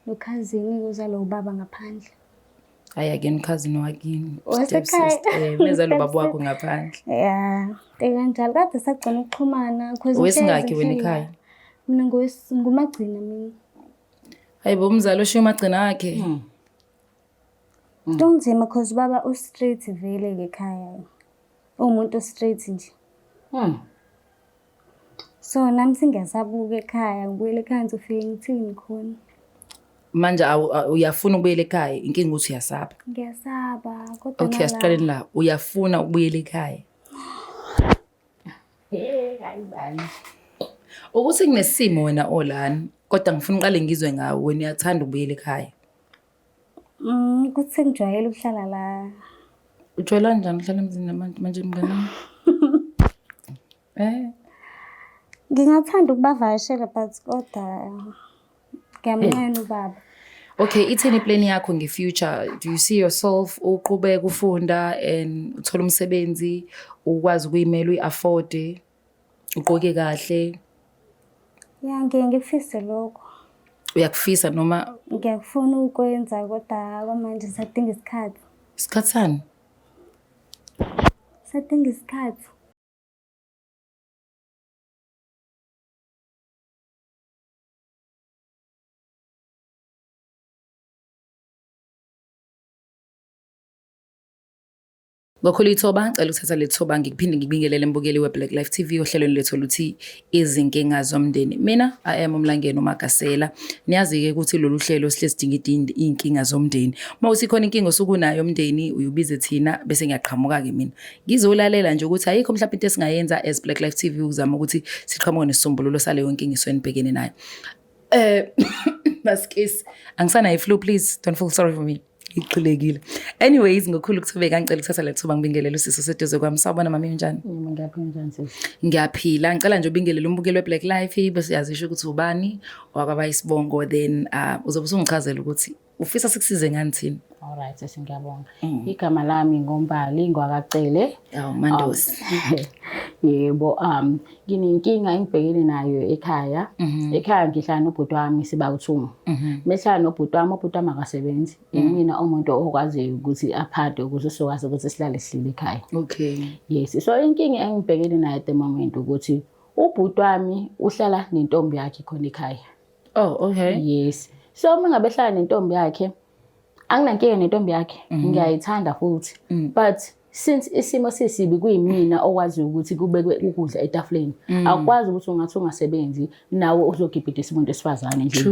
Nokhazini kuza lo baba ngaphandle. Hayi akeni khazini wakini. Wasekhaya. Meza lo baba wakho ngaphandle. Yeah. Ekanjalo kade sagcina ukuxhumana because wesingaki wena ekhaya? Mina ngumagcina mina. Hayibo umzali oshiya umagcina wakhe. Hmm. Mm. Kunzima cause baba u straight vele ke khaya. Umuntu straight nje. Mm. So nami singasabuka ekhaya ngibuyele ekhaya ngizofika ngithini khona. Manje uyafuna ukubuyela ekhaya inkinga ukuthi uyasaba. Ngiyasaba kodwa Okay asiqaleni la uyafuna ukubuyela ekhaya. Eh hayi bani. Ukuthi kunesimo wena olani kodwa ngifuna uqale ngizwe ngawe wena uyathanda ukubuyela ekhaya. Mm, ukuthi sengijwayele ukuhlala la. Ujwayela njani ukuhlala emzini nabantu manje mngane wami? Eh, Ngingathanda ukubavakashela but kodwa ngiyamnqena ubaba. okay, ithini plan yakho ngefuture? Do you see yourself uqhubeka ufunda and uthole umsebenzi ukwazi ukuyimela uyi-afford? ugqoke kahle Ya ngiye ngikufise lokho. uyakufisa noma Ngiyakufuna ukwenza kodwa kwamanje sadinga isikhathi. isikhathi sani Sadinga isikhathi. Ngokhulu ithoba ngicela ukuthatha le thoba ngikuphinde ngikubingelele mbukeli we-Black Life TV ohlelweni lethu oluthi izinkinga zomndeni. Mina I am uMlangeni uMagasela. Niyazi-ke ukuthi lolu hlelo sihle sidingidinda iy'nkinga zomndeni. Uma uthi khona inkinga osukunayo umndeni uyubize thina bese ngiyaqhamuka-ke mina. Ngizolalela nje ukuthi ayikho mhlawumbe into esingayenza as Black Life TV ukuzama ukuthi siqhamuke nesisombululo saleyo nkinga isuke nibhekene nayo. Eh maskisi angisanayo i-flu please don't feel sorry for me. iqhilekile anyways ngokhulu ukuthubeka ngicela ukuthatha le thuba ngibingelele usisi oseduze kwami sawubona mama unjani ngiyaphila ngicela nje ubingelele umbukeli we-black life bese yazisho ukuthi ubani wakwaba isibongo then uh, uzobe usungichazela ukuthi ufisa sikusize ngani thina all right sesi ngiyabonga mm. igama lami ngombali ngwakacele oh, mandosi um, yebo um nginenkinga engibhekene nayo ekhaya mhm. ekhaya ngihlala nobhuti wami siba uthumu mhm. mehlala nobhuti wami ubhuti wami akasebenzi mhm. imina umuntu okwaziyo ukuthi aphathe ukuthi sokwazi ukuthi sihlale sihlile ekhaya okay yes so inkinga engibhekene nayo at the moment ukuthi ubhuti wami uhlala nentombi yakhe khona ekhaya oh okay yes so uma ngabe hlala nentombi yakhe anginankinga nentombi yakhe mhm. ngiyayithanda futhi mm. but since isimo sisibi kuyimina okwaziyo ukuthi kubekwe ukudla etafuleni mm. akwazi ukuthi ungathi ungasebenzi nawe uzogibhidisa umuntu esifazane nje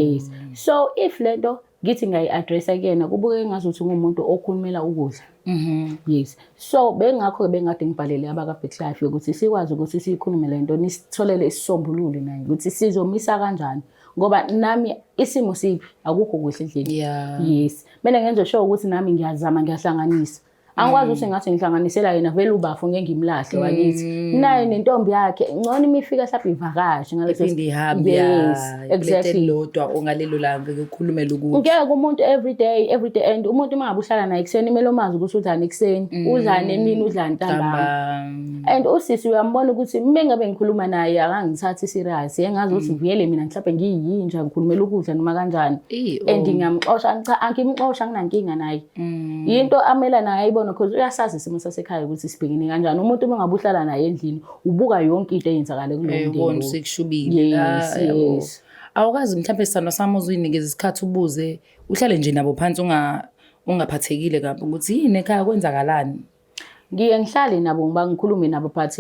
yes so if lento ngithi ngayi-addressa kuyena kubukeke ngazuthi ngumuntu okhulumela ukudla mhm. yes so bengakho-ke bengade ngibhalele abaka-big life yokuthi sikwazi ukuthi siyikhulume le nto nisitholele isisombululo naye ukuthi sizomisa kanjani ngoba nami isimo sibi akukho kuhle endlini yeah. yes mina ngenza sure ukuthi nami ngiyazama ngiyahlanganisa angikwazi ukuthi mm. ngathi ngihlanganisela yena vele ubafo ngeke ngimlahle mm. wakithi naye nentombi yakhe ngcono imifika mhlawumbe ivakashe ngaleso ihambe yes exactly lodwa ongalelo langa ukukhulume lokuthi ngeke umuntu every day every day and umuntu uma ngabuhlala naye kuseni imelo mazi ukuthi udlani kuseni mm. udlani emini udlani ntambama and usisi uyambona ukuthi uma ngabe ngikhuluma naye akangithathi serious engazi ukuthi mm. vele mina mhlawumbe ngiyinja ngikhulumela ukudla noma kanjani and ngiyamxosha cha angimxosha nginankinga naye mm. yinto amela naye ayibona because uyasazi isimo sasekhaya ukuthi sibhekene kanjani umuntu uma ngabe uhlala naye endlini ubuka yonke into eyenzakale kulo eh, mndeni sekushubile yes ah, yes awukazi mhlawumbe sithandwa sami uzuyinikeza isikhathi ubuze uhlale nje nabo phansi unga ungaphathekile kabi ukuthi yini ekhaya kwenzakalani ngiye ngihlale nabo ngiba ngikhulume nabo but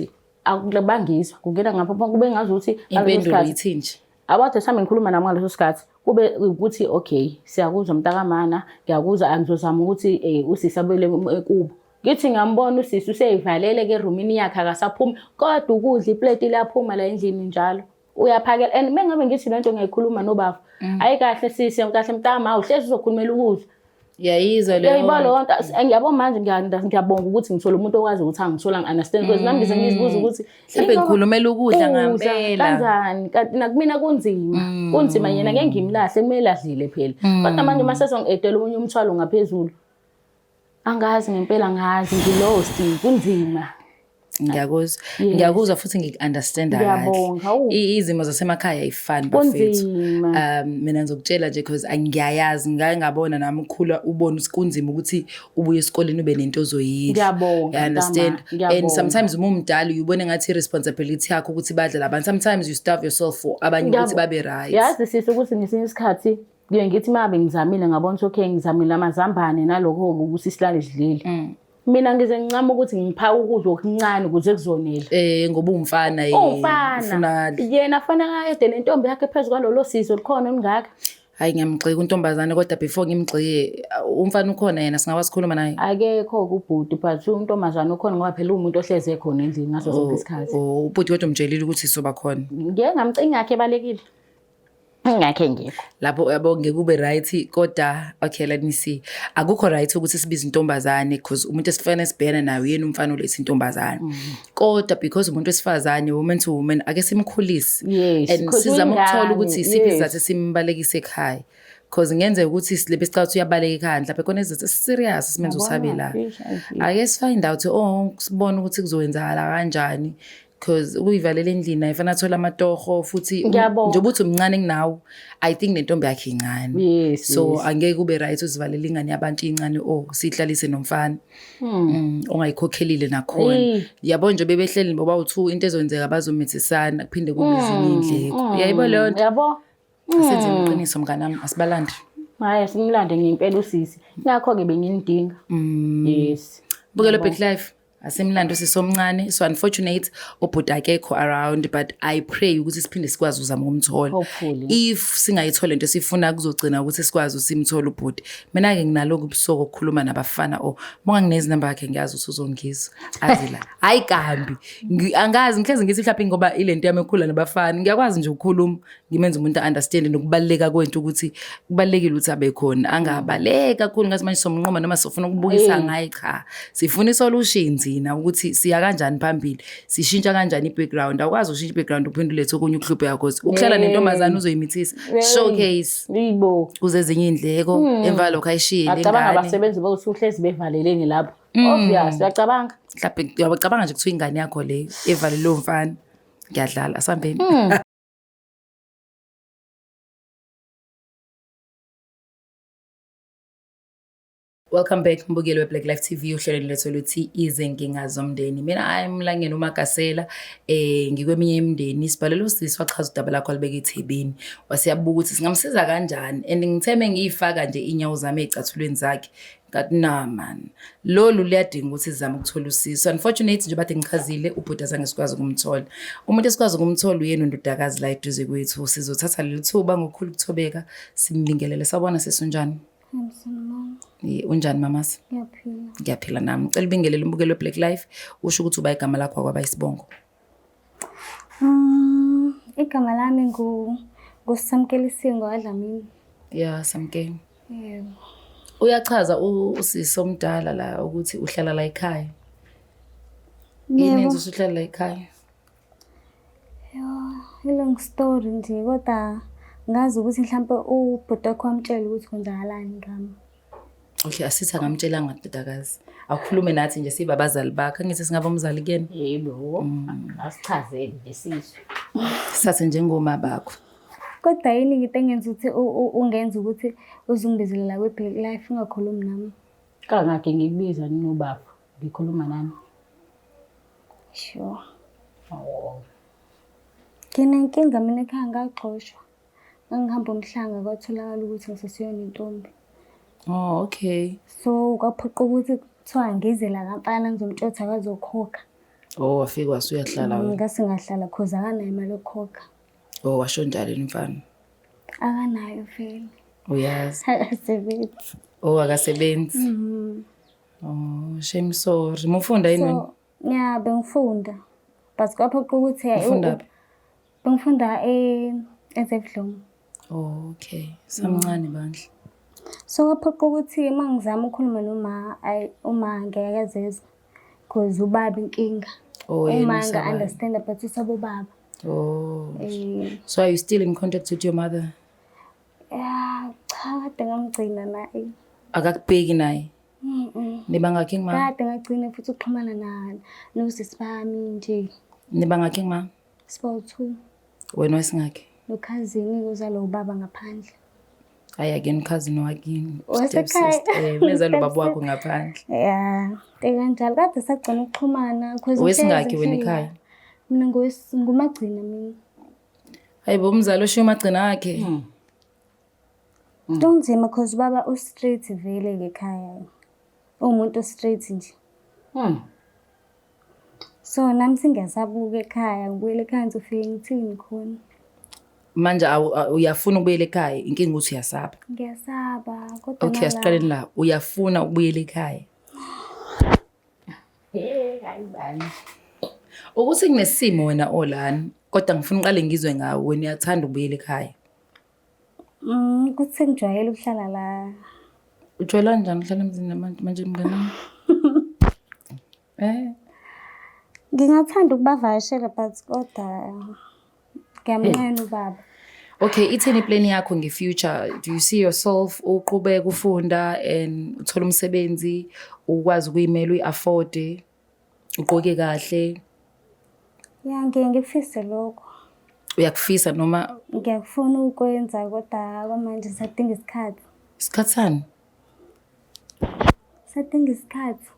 bangizwa kungena ngapha kube ngazi ukuthi impendulo yithi nje abathe mhlawumbe ngikhuluma nami ngaleso sikhathi kube ukuthi okay siyakuzwa mntakamana ngiyakuzwa angizozama ukuthi um eh, usisi abuyele kubo ngithi ngiyambona usisi useyivalele ke erumini yakhe akasaphumi kodwa ukudla ipleti liyaphuma la endlini njalo uyaphakela and mengabe ngithi lento ngiyayikhuluma nobaba mm. ayi kahle sisi kahle mntama awuhlezi uzokhulumela ukudla yayizwa leyo yayiba leyo nto ngiyabo manje ngiyabonga ukuthi ngithola umuntu okwazi ukuthi angithola ngi-understand because nami ngize ngizibuza ukuthi mhlawumbe ngikhulumela ukudla ngampela kanjani kanti nakumina kunzima mm. kunzima yena ngeke ngimlahle kumele adlile phela mm. kodwa manje uma sesongi-edela omunye umthwalo ngaphezulu Angazi ngempela ngazi ngilost kunzima. Ngiyakuzwa. Yes. Ngiyakuzwa futhi ngikunderstanda kahle. Ngiyabonga. Awu. I- Izimo zasemakhaya ayifani bafethu. Kunzima. Um mina ngizokutshela nje because angiyayazi ngake ngabona nami ukhula ubona ukuthi kunzima ukuthi ubuye esikoleni ube nento ozoyidla. Ngiyabonga, I understand. mntama. And Ngiyabonga. sometimes uma umdala uyibona ngathi responsibility yakho ukuthi badle labantu. Sometimes you starve yourself for abanye ukuthi Ngiyabo- babe right. Yazi sisi ukuthi ngesinye isikhathi Kuye ngithi mabe ngizamile ngabona ukuthi okay ngizamile amazambane nalokho ukuthi silale sidlile. Mm. Mina ngize ngincama ukuthi ngiphaka ukudla okuncane ukuze kuzonela. Eh ngoba umfana yena. Umfana. Yena afana kade nentombi yakhe phezulu kwalolo sizo likhona olungaka. Hayi ngiyamgxeka untombazane kodwa before ngimgxike umfana ukhona yena singakwazi ukukhuluma naye. Akekho kubhuti but untombazane ukhona ngoba phela umuntu ohleze khona endlini ngaso sonke oh, isikhathi. Oh ubhuti kodwa umtshelile ukuthi soba khona. Ngeke ngamcinga yakhe balekile. ngakhe ngikho lapho yabo ngeke ube right kodwa okay let me see akukho right ukuthi sibize intombazane because umuntu esifana esibhena naye uyena umfana olethe intombazane mm. kodwa because umuntu wesifazane woman to woman ake simkhulise and sizama ukuthola ukuthi isiphi sizathu simbalekise ekhaya because ngenzeka ukuthi silebe sicabanga ukuthi uyabaleka ekhaya mhlawumbe khona izinto esiserious simenza usabe la ake sifind out oh sibone ukuthi kuzowenzakala kanjani because ukuyivalela endlini ayifana athola amatoho futhi Ngiyabonga. njengoba uthi umncane kunawo i think nentombi yakhe incane Yes, so yes. angeke ube right uzivalela ingane yabantu incane o siyihlalise nomfana Mm, ongayikhokhelile nakhona Eyi. yabo nje bebehleli boba u-two into ezonzeka bazomithisana kuphinde kube ezinye iy'ndleko yayibo leyo nto yabo senze iqiniso mnganami asibalandi hhayi simlande ngempela usisi ngakho-ke benginidinga yes bukela back life asimlando sisomncane so unfortunate ubhuti akekho around but i pray ukuthi siphinde sikwazi ukuzama ukumthola if singayithole into sifuna kuzogcina ukuthi sikwazi usimthola ubhuti mina-ke nginalokhu ubusuku okukhuluma nabafana o oh, monga nginezinamba yakhe ngiyazi ukuthi uzongizwa azi la hhayi kambi angazi ngihlezi ngithi mhlawumbe ngoba ile nto yami ekhula nabafana ngiyakwazi nje ukukhuluma ngimenza umuntu a-understand nokubaluleka kwento ukuthi kubalulekile ukuthi abe khona angabaleki kakhulu ngathi manje somnqoma noma sofuna ukubukisa ngaye cha sifuna isolution thina ukuthi siya kanjani phambili sishintsha kanjani i-background awukwazi ukushintsha i-background uphinde ulethe okunye ukuhlupheya cause ukuhlala nentombazane uzoyimithisa showcase kuze ezinye iy'ndleko hmm. emva lokho ayishiyile ingane acabanga abasebenzi bokusuhlezi bevaleleni lapho hmm. obvious uyacabanga mhlawumbe uyabacabanga nje kuthiwa ingane yakho leyo evalelwe umfana ngiyadlala asambeni hmm. Welcome back mbukeli we-Black Life TV uhlelweni lethu oluthi izinkinga zomndeni. Mina hayi Mlangeni uMagasela eh ngikweminye imindeni sibhalele usisi wachaza udaba lakho alibeke ethebeni. Wasiyabuka ukuthi singamsiza kanjani and ngitheme ngiyifaka nje inyawo zami ezicathulweni zakhe that nah man lolu liyadinga ukuthi sizame ukuthola usizo unfortunately nje bathi ngichazile ubhuti azange sikwazi ukumthola umuntu esikwazi ukumthola uyena undodakazi la eduze kwethu sizothatha leli thuba ngokukhulu ukuthobeka simbingelele sabona sesunjani unjani mamasi ngiyaphila nami cela ubingelele umbukelo we-black life usho ukuthi uba igama lakho akwaba isibongo Um, igama lami ngu nguSamkeli Singo Adlamini. Ya, Samkeli. Yebo. Uyachaza u- usisi omdala la ukuthi uhlala la ekhaya. Yini Yebo. enza ukuthi uhlala la ekhaya? Ilong story nje kodwa ngazi ukuthi mhlawumbe ubhuti wakho wamtshela ukuthi kwenzakalani ngami. Okay, asithi akamtshelanga ndodakazi. Awukhulume nathi nje siba abazali bakho. Angithi singaba umzali kuyena. Yebo. Mm. Asichazele nje sizwe. Sase njengoma bakho. Kodwa yini ngite engenza ukuthi ungenza ukuthi uzungibezelela kwe-black life ungakhulumi nami? Kangakhe ngikubiza ninobaba ngikhuluma nami. Sure. Awu. Nginenkinga mina ekhaya ngagxoshwa. Ngangihamba umhlanga kwatholakala ukuthi ngisesiyona intombi. Oh, okay. So kwaphoqa ukuthi kuthiwa ngize la kamfana ngizomtshotha akazokhokha. Oh, wafika wasuyahlala wena. Ngase ngahlala cause akanayo imali yokukhokha. Oh, washo njalo umfana. Akanayo vele. Uyazi. Akasebenzi. Oh, akasebenzi. Mhm. Oh, shame sorry. Mufunda yini wena? So, yeah, bengifunda. But kwaphoqa ukuthi ufunda phi? Bengifunda ezebudlungu. Okay, samncane bandla. So kwaphoqa ukuthi uma ngizama ukukhuluma noma ayi uma ngeke akezeza because ubaba inkinga. Oh, uma nga understand but usabo baba. Oh. Eh. So are you still in contact with your mother? Yeah, cha kade ngamgcina naye. Akakubheki naye. nibangakhe ngima kade ngagcina futhi ukuxhumana nalo nosisi bami nje nibangakhe ngima Sibawu two. Wena wesingakhe? Nokhazini uzalo ubaba ngaphandle. Hayi akeni ukhazini wakini. Wasekhaya. Eh, meza lo baba wakho ngaphandle. Yeah. Ekanjalo kade sagcina ukuxhumana because wesingakhe wena ekhaya. Mina ngumagcina mina. Hayibo umzali oshiya umagcina wakhe. Hmm. Mm. Kunzima cause baba u straight vele ke khaya. Umuntu straight nje. Mm. So nami singasabuka ekhaya ngibuyele ekhaya ngizofike ngithini khona. Manje uyafuna ukubuyela ekhaya inkinga ukuthi uyasaba. Ngiyasaba kodwa Okay asiqaleni la uyafuna ukubuyela ekhaya. Eh hayi bani. Ukuthi kunesimo wena olani kodwa ngifuna uqale ngizwe ngawe wena uyathanda ukubuyela ekhaya. Mm, ukuthi sengijwayele ukuhlala la. Ujwayela njani ukuhlala emzini nabantu manje mngane wami? Eh, Ngingathanda ukubavakashela but kodwa ngiyamnqena ubaba. okay, ithini plan yakho ngefuture? Do you see yourself uqhubeka ufunda and uthole umsebenzi ukwazi ukuyimela uyi-afford? ugqoke kahle Ya ngiye ngikufise lokho. uyakufisa noma Ngiyakufuna ukwenza kodwa kwamanje sadinga isikhathi. isikhathi sani Sadinga isikhathi.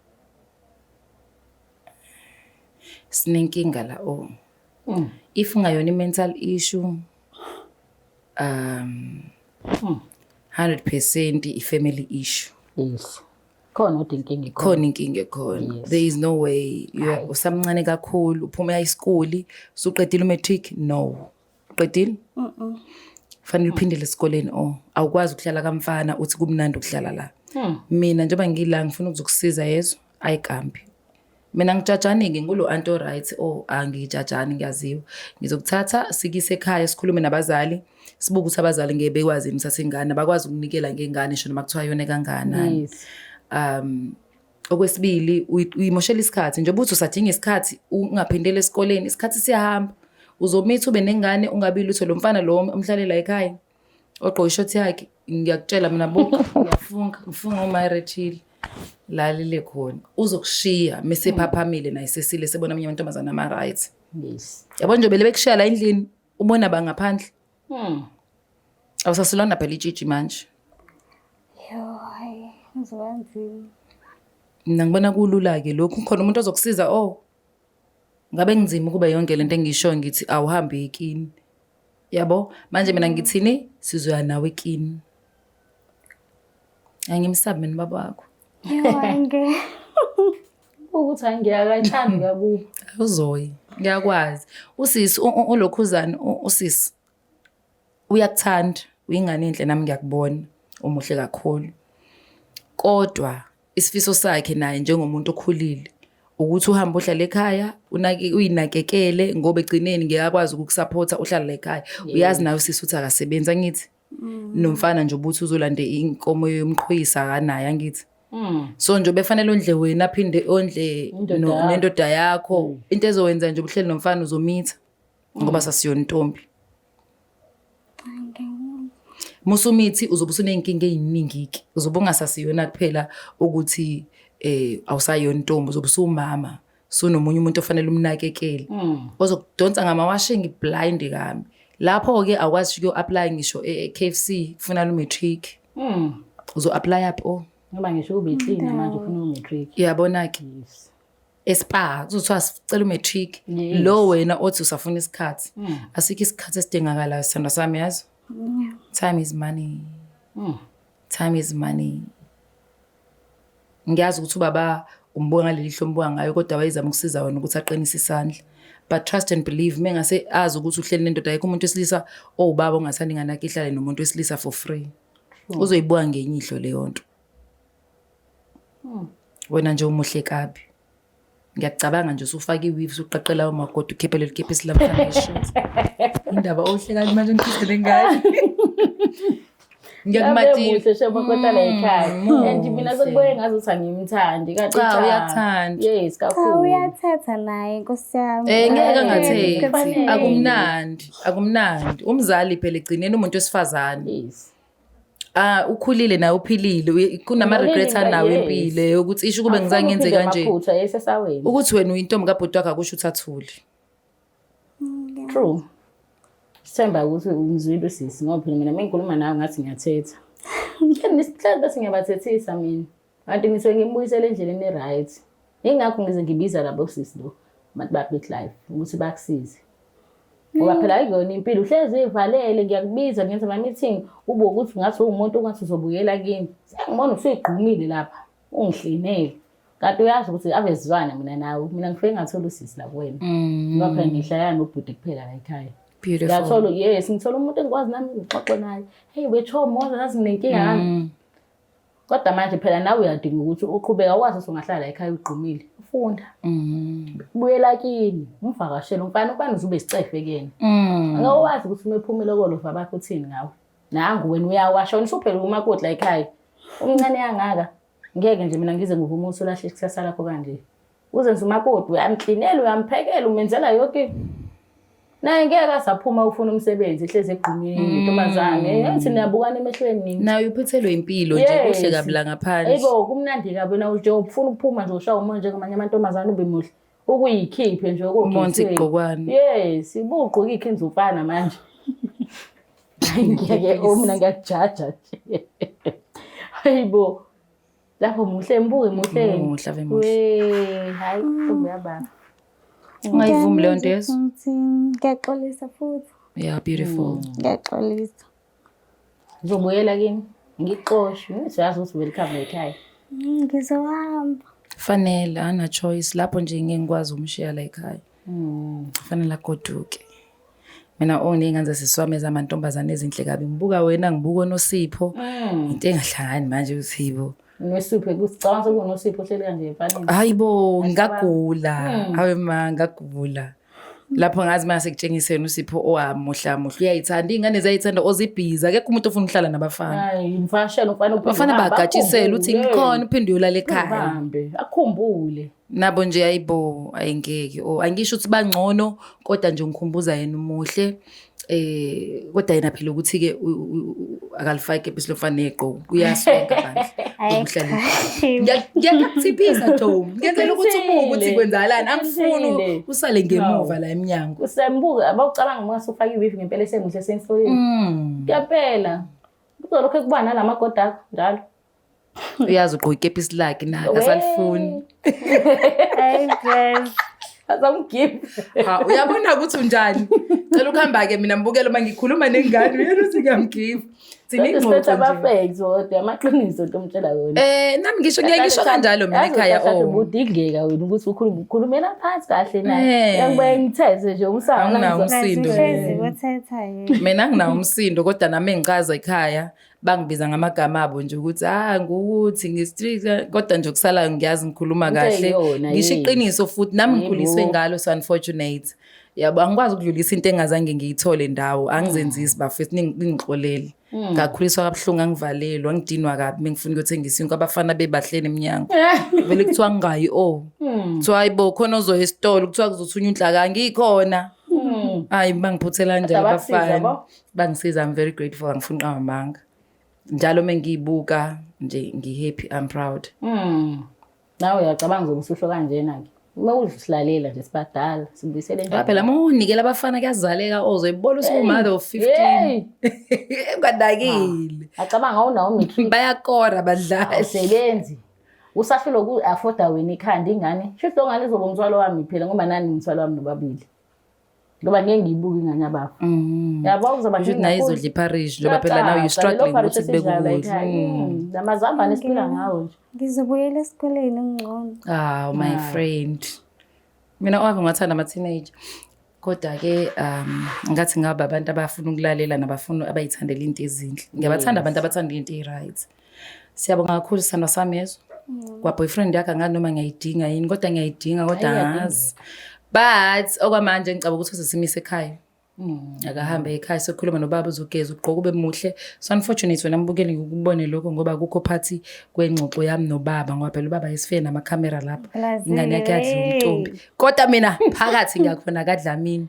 sinenkinga la o if ngayona i-mental issue um 100 percent i-family issue Yes. khona kodwa inkinga ikhona khona inkinga ekhona Yes. there is no way you are- usamncane kakhulu uphumela isikuli usuqedile umatric no uqedile fanele uphindele esikoleni o awukwazi ukuhlala kamfana uthi kumnandi ukuhlala la mina njengoba ngila ngifuna ukuzokusiza yezo ayikambi Mina ngijajani-ke ngulo anti o-right o oh, angijajani ngiyaziwa. Ngizokuthatha sikise ekhaya sikhulume nabazali sibuke ukuthi abazali ngeke bekwazi yini ukuthatha ingane abakwazi ukunikela ngengane sho noma kuthiwa yona kanganani. Um okwesibili uyimoshela isikhathi njengoba uthi usadinga isikhathi ungaphindele esikoleni isikhathi siyahamba uzomitha ube nengane ungabi lutho lo mfana lo omhlalela ekhaya ogqoke ishothi yakhe ngiyakutshela mina buka ngiyafunga ngifunga umayrechile lalile khona uzokushiya mesephaphamile naye sesile sebona omunye amantombazane ama-right yes yabo nje bele bekushiya la endlini ubona bangaphandle hmm. awusasilona phela itshitshi manje mna ngibona kulula-ke lokhu khona umuntu ozokusiza o oh, ngabe kunzima ukuba yonke le nto engishoyo ngithi awuhambe ekini yabo manje mina ngithini sizoya nawe kini angimsabi mina baba wakho Yonke. ukuthi hayi ngiyakayithandi kakubi awuzoyi ngiyakwazi usisi u- u- ulokhuzane u- usisi uyakuthanda uyingane enhle nami ngiyakubona umuhle kakhulu kodwa Isifiso sakhe naye njengomuntu okhulile ukuthi uhambe uhlala ekhaya unake uyinakekele ngoba egcineni ngeke akwazi ukukusupport uhlala ekhaya uyazi nayo sisi uthi akasebenzi angithi mm. nomfana nje ubuthi uzolande inkomo yomqhoyisa akanayo angithi mm. so nje befanele ondle wena aphinde ondle nendoda yakho mm. into ezowenza nje ubuhleli nomfana uzomitha ngoba mm. sasiyontombi musa umithi uzobe usuney'nkinga ey'ningi-ke uzobe ungasasiyona kuphela ukuthi um awusayona intombi uzobe usuwumama sunomunye umuntu ofanele umnakekele mm. ozokudonsa ngamawashingi blind kambi lapho-ke awukwazi sho kuyo-aplaya ngisho e-k f c kufuna lumatric mm. uzo-aplaya phi o oh. ngoba ngisho ubeklina manje ufuna umatric uyabona-ke espar kuzothiwa sicela umatric lo wena othi usafuna isikhathi hmm. asikho isikhathi esidingakalayo sithandwa sami yazo time is money hmm. time is money ngiyazi ukuthi ubaba umbuka ngaleli hlo ombuka ngayo kodwa wayezama ukusiza wena ukuthi aqinise isandla but trust and believe me ngase azi ukuthi uhleli nendoda ayikho umuntu wesilisa owubaba ongathandi nganakho ihlale nomuntu wesilisa for free uzoyibuka ngenye ihlo leyo nto wena nje umuhle kabi ngiyakucabanga nje usufake iweave usuqaqela umakoti ukhiphe leli kephi esilamfanisho indaba ohle kali manje ngikhiphele ngayo ngiyakumathile shebo kodwa la ekhaya mm, mm, and mina mm, sekuboye ngazo ukuthi angimthandi kanti cha uyathanda yes kakhulu ah, uyathatha naye nkosi yami eh ngeke ngathethi akumnandi akumnandi umzali phela egcineni umuntu wesifazane yes Ah ukhulile naye uphilile kunama regrets anawo empilo yokuthi isho kube ngizange ngenze kanje. Ukuthi wena uyintombi kabhuti wakhe akusho ukuthi athule. True. Sithemba ukuthi umzwile usisi ngoba phela mina mengikhuluma nawe ngathi ngiyathetha. Ngihlale bese ngiyabathethisa mina. kanti ngise ngimbuyisele endleleni e-right yingakho ngize ngibiza labo sisi lo abantu ba-big life ukuthi bakusize ngoba phela ayikuyona impilo uhlezi uyivalele ngiyakubiza ngenza ama-meeting ube ukuthi ngathi uwumuntu ongathi uzobuyela kimi sengibona usuyigqumile lapha ungihlinele kanti uyazi ukuthi abezizwana mina nawe mina ngifike ngathola usisi la kuwena mm. ngoba phela ngihlaya nobhuti kuphela la ekhaya ngiyathola yes ngithola umuntu engikwazi nami ngixoxe naye heyi wetho moza ngazi nginenkinga yami mm. kodwa manje phela nawe uyadinga ukuthi uqhubeka wazi ukuthi ungahlala ekhaya ugqumile ufunda mm. buyela kini umvakashele umfana ubani uzube isicefe kuyena mm. ngeke wazi ukuthi uma ephumile kolova bakho uthini ngawe nangu wena uyawasha wena usuphele umakotla ekhaya umncane yangaka ngeke nje mina ngize ngivume ukuthi ulahle ikusasa lakho kanje uzenza umakoti uyamklinela uyamphekela umenzela yonke naye ngeke asaphuma ufuna umsebenzi ihlezi egqumile mm. intombazane yathi niyabukana emehlweni nini naye uphuthelwe impilo nje kuhle kabla ngaphandle yebo kumnandi kabi na nje ufuna ukuphuma nje ushawa umoya njengamanye amantombazane ube muhle ukuyikhiphe nje okomonzi igqokwane yes ibugqoka ikhenza ufana manje ngeke omna ngiyakujaja nje hayibo lapho muhle mbuke muhle muhle ave muhle we hayi kumbe yababa ungayivumi leyo nto yezo ngiyaxolisa futhi yeah beautiful mm. ngiyaxolisa ngizobuyela kini ngixoshwe siyazi ukuthi welcome ekhaya mm, ngizohamba fanele ana choice lapho nje ngeke ngikwazi ukumshiya la ekhaya Mm, fanele agoduke. Mina o oh, ney'ngane zaseswami ezamantombazane ezinhle kabi ngibuka wena ngibuka onosipho mm. into engahlangani manje usibo Nosipho kusicabanga sokunosipho ohleli kanje emfaneni. Hayi bo ngagula. Mm. Hawe ma ngagula. lapho ngazi mase kutshengiseni usipho owamuhla oh, muhla uyayithanda ingane ziyayithanda ozibhiza akekho umuntu ofuna uhlala nabafana hayi imfashela ufana ubafana bagatshisela uthi ngikhona uphinde uyolala ekhaya akhumbule nabo nje ayibo ayingeke or angisho ukuthi bangcono kodwa nje ngikhumbuza yena umuhle eh kodwa yena phela ukuthi ke akalifake ibisi lofana negqoko uyasonka bandla umhlali ngiyakuthipisa Tom ngenzela ukuthi umuke ukuthi kwenzakalani angifuni usale ngemuva la eminyango usembuka abawucabanga uma usufaka iwifi ngempela esemuhle senhloleni mm. ngempela kuzolokho kuba nalamagoda akho njalo uyazi ugqoke ikepisi lakhe naye Wee. asalifuni Hey girl. Azamgive. Ha, uyabona ukuthi unjani cela ukuhamba-ke mina mbukela uma ngikhuluma nengane uyena ukuthi ngiyamgiva Kodwa siphethe sinengxoxo abafeki zodwa amaqiniso into omtshela yona. um Eh, nami ngisho ngiye ngisho kanjalo mina ekhaya oh. o Ubudingeka wena ukuthi ukhulume ukhulumela phansi kahle Eh. naye. Yakuba ngithethe nje umsana. Anginawo ngizwa- umsindo. Uhlezi kothetha yena. mina nginawo umsindo kodwa nami engicaza ekhaya bangibiza ngamagama abo nje ukuthi ah ngukuthi ngi-street kodwa nje okusalayo ngiyazi ngikhuluma kahle ngisho iqiniso futhi nami ngikhuliswe ngalo so unfortunate yabo angikwazi ukudlulisa into engazange ngiyithole ndawo angizenzisi bafethu ningixolele hmm. ngakhuliswa kabuhlungu angivalelwa ngidinwa kabi mengifuna ukuyothengisa inkwa abafana bebahleni emnyango vele kuthiwa ngingayi o oh. hmm. kuthiwa hayi bo khona ozoya esitolo kuthiwa kuzothunywa unhlaka ngikhona hmm. hayi bangiphuthela njalo abafana bangisiza i'm very grateful angifuni nqamanga njalo uma ngiyibuka nje ngi-happy i'm proud mm. nawe uyacabanga ukuthi usho kanjena-ke uma uzihlalela nje sibadala sibuyisele njalo phela uma unikela abafana kuyazaleka ozoyibona usumother of 15 ungadakile ah, acabanga awunawo matric bayakora badlali sebenzi usafile ku afforda wena ikhanda ingane shuthi longane izoba umthwalo wami phela ngoba nani umthwalo wami nobabili ngoba ngeke ngiyibuke ingane yabafo mm. yabo kuzoba nje nayo izodla iparish ngoba phela now you struggling ukuthi kubeke ukudla mm. namazambane esiphila ngawo nje ngizobuyela esikoleni ngcono ah my ah. friend mina owami ngathanda ama teenager kodwa ke um ngathi ngaba abantu abafuna ukulalela nabafuna abayithandela into ezinhle ngiyabathanda abantu abathanda into e-right Siyabonga kakhulu sithandwa sami yezo. Mm. Kwa boyfriend yakhe angazi noma ngiyayidinga yini kodwa ngiyayidinga kodwa angazi. But okwamanje ngicabanga ukuthi uzosimise ekhaya. Mm. Akahambe ekhaya sokhuluma nobaba uzogeza ugqoka ube muhle. So unfortunately wena mbukeli ngikubone lokho ngoba akukho phathi kwengxoxo yami nobaba ngoba phela ubaba yesife nama camera lapha. Ingane yakhe yadla umtombi. Kodwa mina phakathi ngiyakhona kadlamini.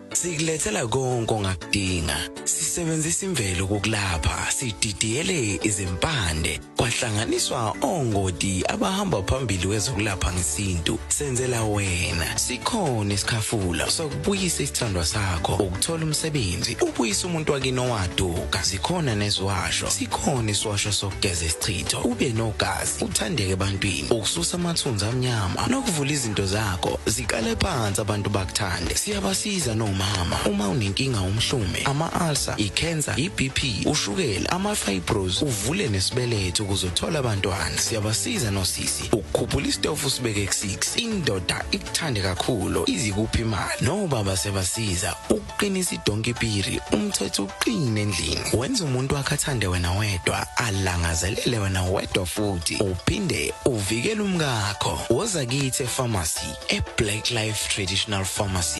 Sikulethela konke ongakudinga. Sisebenzisa imvelo kokulapha, sididiyele izimpande, kwahlanganiswa ongoti abahamba phambili wezokulapha ngesintu. Senzela wena. Sikhona isikhafula sokubuyisa isithandwa sakho, ukuthola umsebenzi, ubuyisa umuntu wakini owaduka. Sikhona neziwasho. Sikhona isiwasho sokugeza isichitho, ube nogazi. uthandeke ebantwini ukususa amathunzi amnyama nokuvula izinto zakho ziqale phansi abantu bakuthande siyabasiza nomama uma unenkinga umhlume ama-ulcer i-cancer i-bp ushukela ama-fibros uvule nesibeletho ukuze uthole abantwana siyabasiza nosisi ukukhuphula isitofu usibeke ku-6 indoda ikuthande kakhulu izikuphi imali nobaba siyabasiza qinisa idonki piri umthetho uqine endlini wenza umuntu wakhe athande wena wedwa alangazelele wena wedwa futhi uphinde uvikele umkakho woza kithi epharmacy eblack life traditional pharmacy